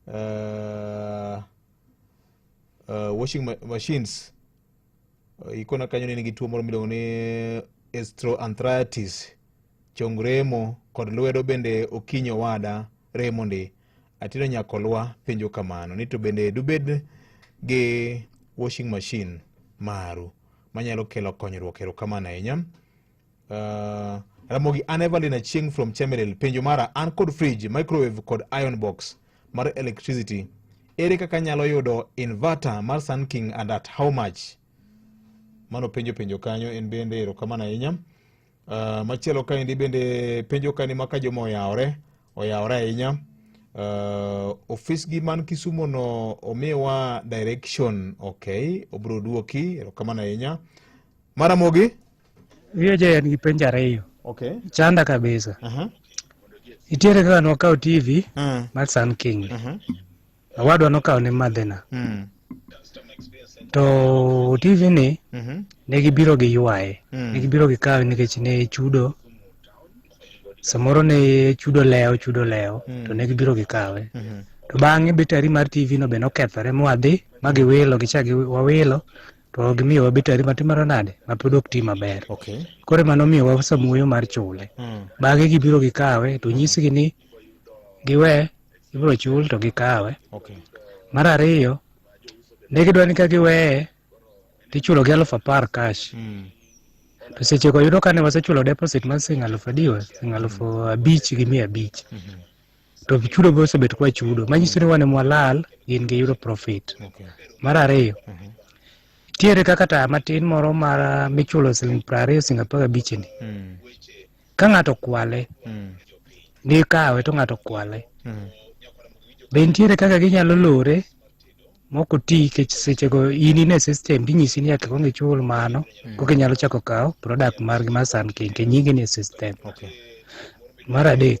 uh, uh, washing ma machines uh, ikona kanyo ni nigi tuo moro miluongo ni estroanthritis chong remo kod lwedo bende okinyi owada remo ndi atino nyakolwa penjo kamano ni to bende dubed gi washing machine maru manyalo kelo konyruok erokamano ahinya Uh, Ramogi an Evelyn Achieng from Chemelil. Penjo mara an kod fridge, microwave kod iron box mar electricity. Ere kaka nyalo yudo inverter mar Sun King and at how much? Mano penjo penjo kanyo en bende erokamano ahinya. Uh, machielo kaendi bende penjo kani ma ka joma oyawore oyawore ahinya uh, ofis gi man Kisumo no omiwa direction okay, obro duoki erokamano ahinya. Maramogi Wiye jaya nigi penjo ariyo. Okay. Chanda kabisa. Uh -huh. Itiere kaka nokawo TV uh -huh. mar Sun King. Uh -huh. Awadwa nokawo ne madhina. Uh hmm. -huh. To TV ni uh mhm. -huh. ne gibiro gi ywaye. Uh hmm. -huh. Ne gibiro gi kawe nikech ne chudo. Samoro ne chudo lewo chudo lewo uh hmm. -huh. to ne gibiro gi kawe. Uh -huh. To bang'e betari mar TV no be nokethore mwadhi ma giwilo gichak wawilo to gimiyowa betari matimaro nade mapod ok ti maber Okay. koro emano miyowa samuoyo mar chule Mm. bang'e gibiro gikawe to nyisgi ni giwe ibiro chul to gikawe Okay. mar ariyo ne gidwa ni ka giweye tichulogi alufu apar cash Mm. to sechego yudo kane wasechulo deposit mar sing alufu adiwa sing alufu abich gi mia abich Mhm. to chudo be osebet kwa chudo manyiso ni wane mwalal gin gi yudo profit okay. mar ariyo mm -hmm. tiere kaka taya matin moro mar michulo siling piero ariyo siling apar abichni mm. ka ng'ato kwale mm. ni kawe to ng'ato kwale mm. be nitiere kaka ginyalo lore mok oti nikech sechego in ine system tinyisi ni nyaka kong ichul mano mm. koka inyalo chako kawo product margi mar sun king ke nyingi ni e system okay. mar adek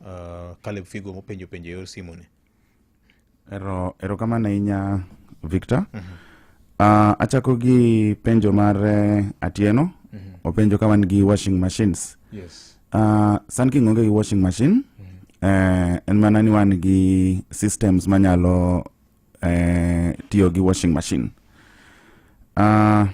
uh, Caleb Figo mopenjo penjo e yor simu ni. Ero, erokamano ahinya Victor. Mm -hmm. Uh, achako gi penjo mar uh, Atieno. Mm -hmm. Openjo ka wan gi washing machines. Yes. Uh, Sun King onge gi washing machine. Mm -hmm. uh, en mana ni wan gi systems manyalo eh, tiyo gi washing machine uh,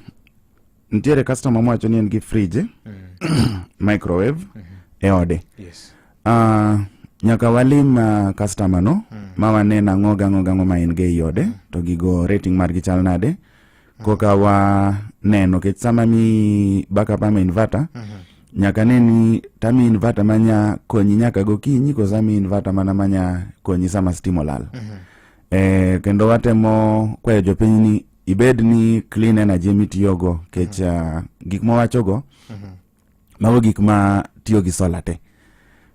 nitiere customer mowacho ni en gi fridge mm. microwave mm -hmm. e ode yes. uh, nyaka walim uh, customer no mm. ma wane nang'o gang'o gang'o ma en ge iode mm. to gigo rating margi chal nade koka wa neno kech sama mi baka pa mi inverter nyaka ne ni ta mi inverter manya konyi nyaka gokinyi kosa mi inverter mana manya konyi sama stima olal eh, kendo watemo kwayo jopiny ni ibed ni clean energy mitiyogo kech uh, gik mwawachogo mago gik ma tiyo gi sola te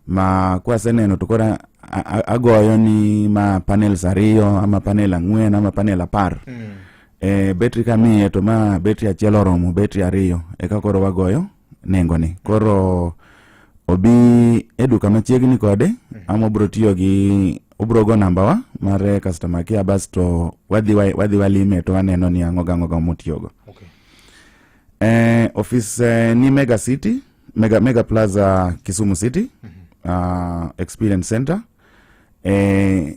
ma kwaseneno to koro agoyo ni ma panels ariyo ama panel ang'wen ama panel apar mm. e, betri kamiye to ma betri achiel oromo betri ariyo eka koro wagoyo nengoni koro obi e duka machiegni kode mm. ama obro tiyo gi obro go nambawa mar customer care basto wadhi walime to waneno ni ang'o gang'o ga motiyogo okay. Eh, office eh, ni Mega City, Mega, Mega Plaza Kisumu City mm -hmm. uh, Experience Center eh,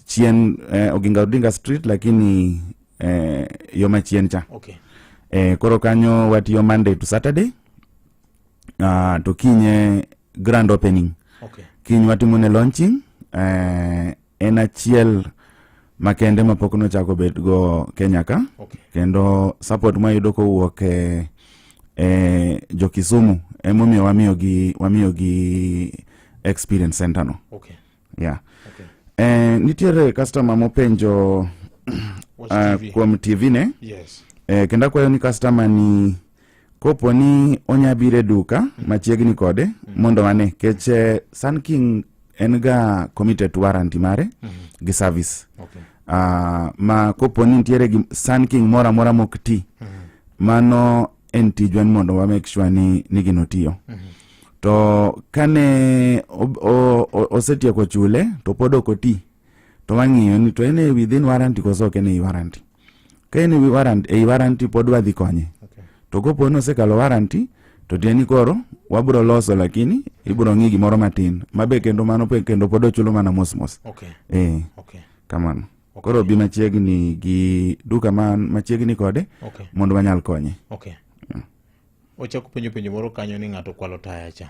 chien eh, Oginga Odinga Street lakini eh, yo machien cha okay. Eh, koro kanyo watiyo Monday to Saturday uh, to kinye grand opening okay. Kiny watimo ne launching eh, en achiel makende mapok nochako bedgo kenya ka okay. kendo support mwayudo kowuok e, e jokisumu emomiyo wamiyogi wamiyogi experience center no okay. yeah. okay. E, nitiere customer mopenjo uh, kuom tv ne yes. e, kendo akwayo ni customer ni kopo ni onya biro e duka machiegni kode mondo wane kech eh, sun king en ga committed to warranty mare gi service Okay. Ah, ma kopo ni nitiere gi sun king moro amora mok ti mano en tijwa ni mondo wa make sure ni, ni gino tiyo to kane ob- o- o- osetieko chule to pod ok oti to wang'iyo ni to en e within warranty koso ok en e warranty ka en e warranty e warranty pod wadhi konye okay. to kopo ni osekalo warranty to tieni koro wabro loso lakini ibro ng'i gimoro matin mabe kendo mano pe kendo pod ochulo mana mos mos okay. eh okay. kamano okay. koro bi machiegni gi duka man machiegni kode okay. mondo wanyal konye okay. yeah. wachako penjo penjo moro kanyo ni ng'ato kwalo taya cha